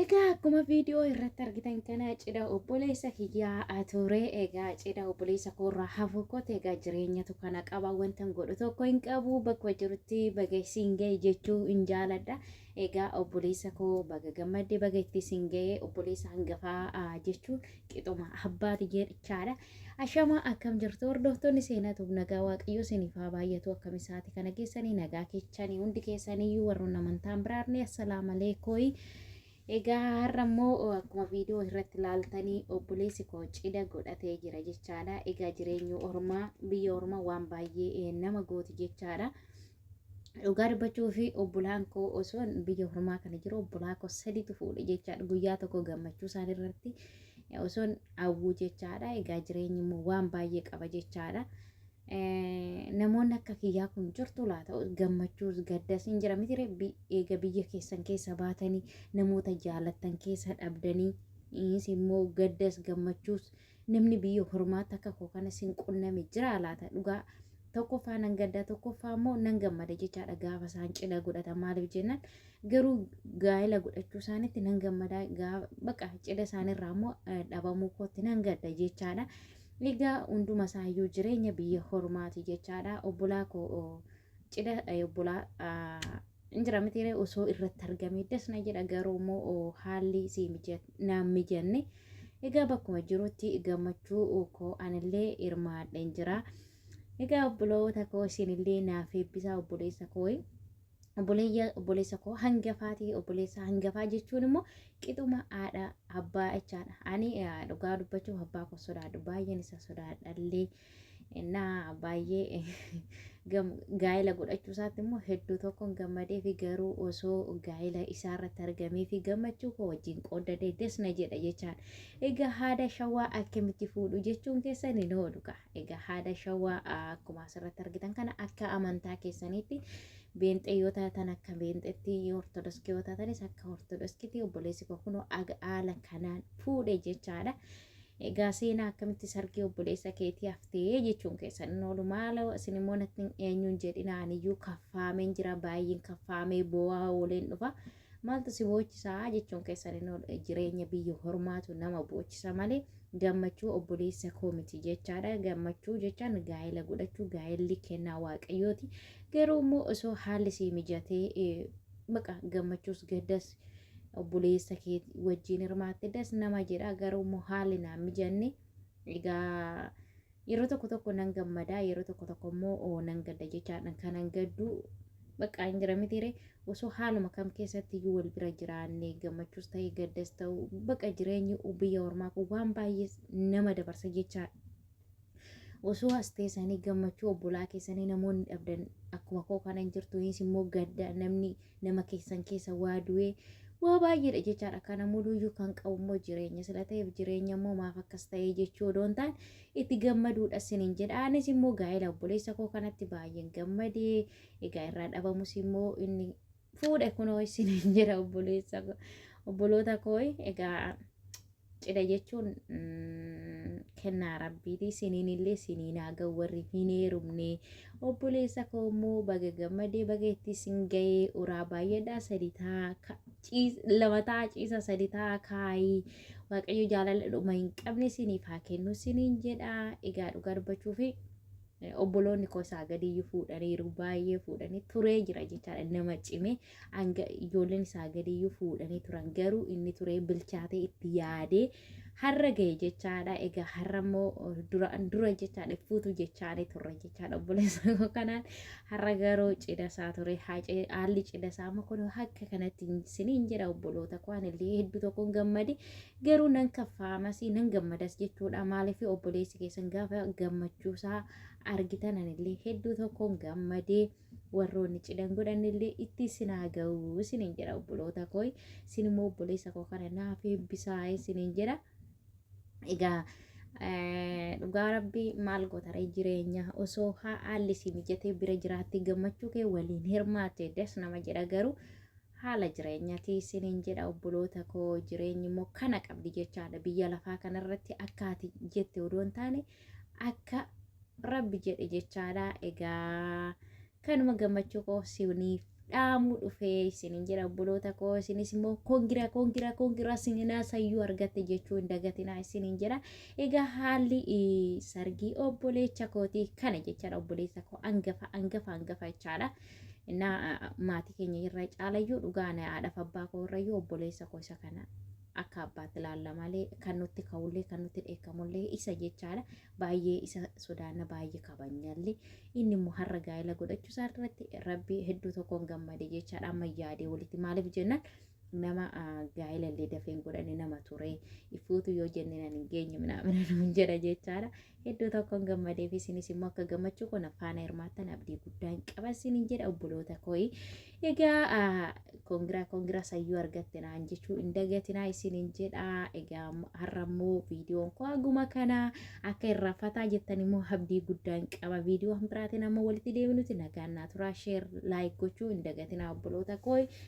Egaa akkuma viidiyoo irratti argitan kana cidha obboleessa kiyyaa ture egaa cidha obboleessa koorraa hafu kote egaa jireenyatu kana qaba wantan godhu tokko hin qabu bakka jirutti baga isiin ga'e jechuu hin jaaladha. Egaa obboleessa koo baga gammadde baga itti isin ga'e obboleessa hangafaa jechuun qixuma abbaati jechaadha. Ashamaa akkam jirtu hordoftoonni seenaa tuub nagaa waaqayyoo isiniif haa baay'atu akkam isaati kana keessanii nagaa keechanii hundi keessaniyyuu warroon amantaan biraarne assalaama leekooyi. Egaa har'a immoo akkuma viidiyoo irratti laaltanii obboleessi koo cidha godhatee jira jechaadha. Egaa jireenyi ormaa biyya ormaa waan baay'ee nama gooti jechaadha. Dhugaa dubbachuu fi obbolaan koo osoo biyya hormaa kana jiru obbolaa koo sadiitu fuudhe jechaadha. Guyyaa tokko gammachuu isaan irratti osoo hawwuu jechaadha. Egaa jireenyi immoo waan baay'ee qaba jechaadha. Namoonni akka kiyyaa kun jirtu laata gammachuus gaddas hin jira miti reebbi eega biyya keessan keessa baatanii namoota jaalattan keessa dhabdanii immoo gaddas gammachuus. Namni biyya hormaata akka koo kana sin qunname jiraa laata dhugaa tokkoffaa nan gaddaa tokkoffaa immoo nan gammada jechaadha gaafa isaan cidha godhatan maaliif jennaan garuu gaa'ela godhachuu isaanitti nan gammada baqa cidha isaanirraa immoo dhabamuu kootti nan gadda jechaadha. Egaa hunduma isaayyuu jireenya biyya hormaati jechaadha obbolaa koo cidha obbolaa hin jira mitiiree osoo irratti argamee das na jedha garuu immoo haalli si naan mijanne egaa bakkuma jirutti gammachuu koo anillee hirmaadheen jira egaa obboloota koo isinillee naaf eebbisaa obboleessa koo obboleessa koo hangafaati obboleessa hangafaa jechuun immoo qixuma haadha abbaa jechaadha ani dhugaa dubbachuuf abbaa koo sodaadhu baay'een isa sodaadhallee Innaa baay'ee gaa'ela godhachuu isaatti immoo hedduu tokkoon gammadee fi garuu osoo gaa'ela isaa irratti argamee fi gammachuu koo wajjin qooddadee des na jedha jechaan. Egaa haada shawaa akkamitti fuudhu jechuun keessan hin oolu kaa. Egaa haada shawaa akkuma asirratti argitan kana akka amantaa keessaniitti beenxee yoo taatan akka beenxeetti ortodoskii yoo taatanis akka ortodoskiitti obboleessi koo kunoo haala kanaan fuudhe jechaadha. Egaa seenaa akkamitti sargii obboleessa keetii haftee jechuun keessan hin oolu maaloo isin immoo natti hin eenyuun jedhina aniyyuu kaffaameen jira baay'een kaffaamee boo'aa ooleen dhufa maaltu si boochisaa jechuun keessan hin oolu jireenya biyya hormaatu nama boochisa malee gammachuu obboleessa koo miti jechaadha gammachuu jechaan gaa'ela godhachuu gaa'elli kennaa waaqayyooti garuu immoo osoo haalli sii mijatee eh, baqa gammachuus gaddas obboleessa kee wajjin hirmaatte das nama jedha garuu immoo haalli naan mijanne egaa yeroo tokko tokko nan gammada yeroo tokko tokko immoo oo nan gadda jechaadhaan kanan gaddu baqqaa hin jira mitiire osoo haaluma kam keessatti iyyuu wal bira jiraanne gammachuus ta'e gaddas ta'u baqa jireenyi biyya ormaa kun waan baay'ee nama dabarsa jechaadha. osoo as teessanii gammachuu obbolaa keessanii namoonni dhabdan akkuma koo kana hin jirtu innis immoo gadda namni nama keessan keessa waa du'ee waa baay'eedha jechaadha kana muluyyuu kan qabu immoo jireenya sila ta'eef jireenya immoo maaf akkas ta'ee jechuu odoo hin taane itti gammaduudha sinin jedha anis immoo gaa'ela obboleessa koo kanatti baay'een gammadee egaa irraa dhabamus immoo inni fuudhe kunoo isin hin jira obboleessa ko- obboloota kooy egaa cidha jechuun mm, kennaa rabbiiti isiniin illee isiniin haa ga'u warri hin heerumne obboleessa koo immoo baga gammadee baga itti isin ga'ee uraa baay'eedhaa sadi ta'a ka- ciis- lama ta'a ciisa sadi ta'a kaayii waaqayyo jaalala dhuma hin qabne isiniif haa kennu isiniin jedha egaa dhugaa dubbachuufi obboloonni koo isaa gadiyyuu fuudhaniiru baay'ee fuudhanii turee jira jechaadha nama cimee hanga ijoolleen isaa gadiyyuu fuudhanii turan garuu inni turee bilchaatee itti yaadee har'a ga'e jechaadha egaa har'a immoo duraan dura jechaadha fuutu jechaanii turre jechaadha obboleessa koo kanaan har'a garuu cidha isaa ture haacee haalli cidha isaa amma kun akka kanatti isiniin jedha obboloota koo anillee hedduu tokkoon gammade garuu nan kaffaamas nan gammadas jechuudha maaliif obboleessi keessan gaafa gammachuusaa argitan anillee hedduu tokkoon gammadee warroonni cidhan godhanillee itti isin haa ga'u isiniin jedha obboloota koo isin immoo obboleessa koo kana naaf eebbisaa isiniin jedha egaa eh, dhugaa rabbii maal gotaree jireenya osoo haalli si mijatee bira jiraattee gammachuu kee waliin hirmaatte das nama jedha garuu Haala jireenyati isiniin jedha obboloota koo jireenyi immoo kana qabdi jechaadha biyya lafaa kanarratti akka ati jette odoo hin taane akka rabbi jedhe jechaadha egaa kanuma gammachuu koo isiniif dhaamuu dhufee isiniin jedha obboloota koo isinis immoo kongira kongira kongira sininaa sayyuu argatte jechuu hin dagatinaa isiniin jedha egaa haalli eh, sargii obboleecha kootii kana jechaadha obboleessa koo angafa angafa angafa jechaadha Innaa maatii keenya irra caalayyuu dhugaan haadhaaf abbaa koo irrayyuu obboleessa koo isa kana akka abbaatti ilaalla malee kan nutti ka'ullee kan nutti dheekkamullee isa jechaadha baay'ee isa sodaanna baay'ee kabanyallee inni immoo har'a gaa'ela godhachuu isaa irratti rabbi hedduu tokkoon gammade jechaadha amma yaadee walitti maaliif jennaan nama gaa'ila illee dafee hin godhanne nama ture ifuutu yoo jenne nan hin geenye minaamina nuun jedha jechaadha hedduu tokkoon gammadee fi isinis immoo akka gammachuu koo na faana hirmaattan abdii guddaan qaba isin hin jedha obboloota kooyi egaa kongiraa kongiraa sayyuu argatte naan jechuu hin dagatinaa isin hin jedha egaa har'a immoo viidiyoon koo haguma kana akka irraa fataa jettan immoo abdii guddaan qaba viidiyoo biraatiin amma walitti deebinuti nagaan naa turaa sheer laayik gochuu hin dagatinaa obboloota kooyi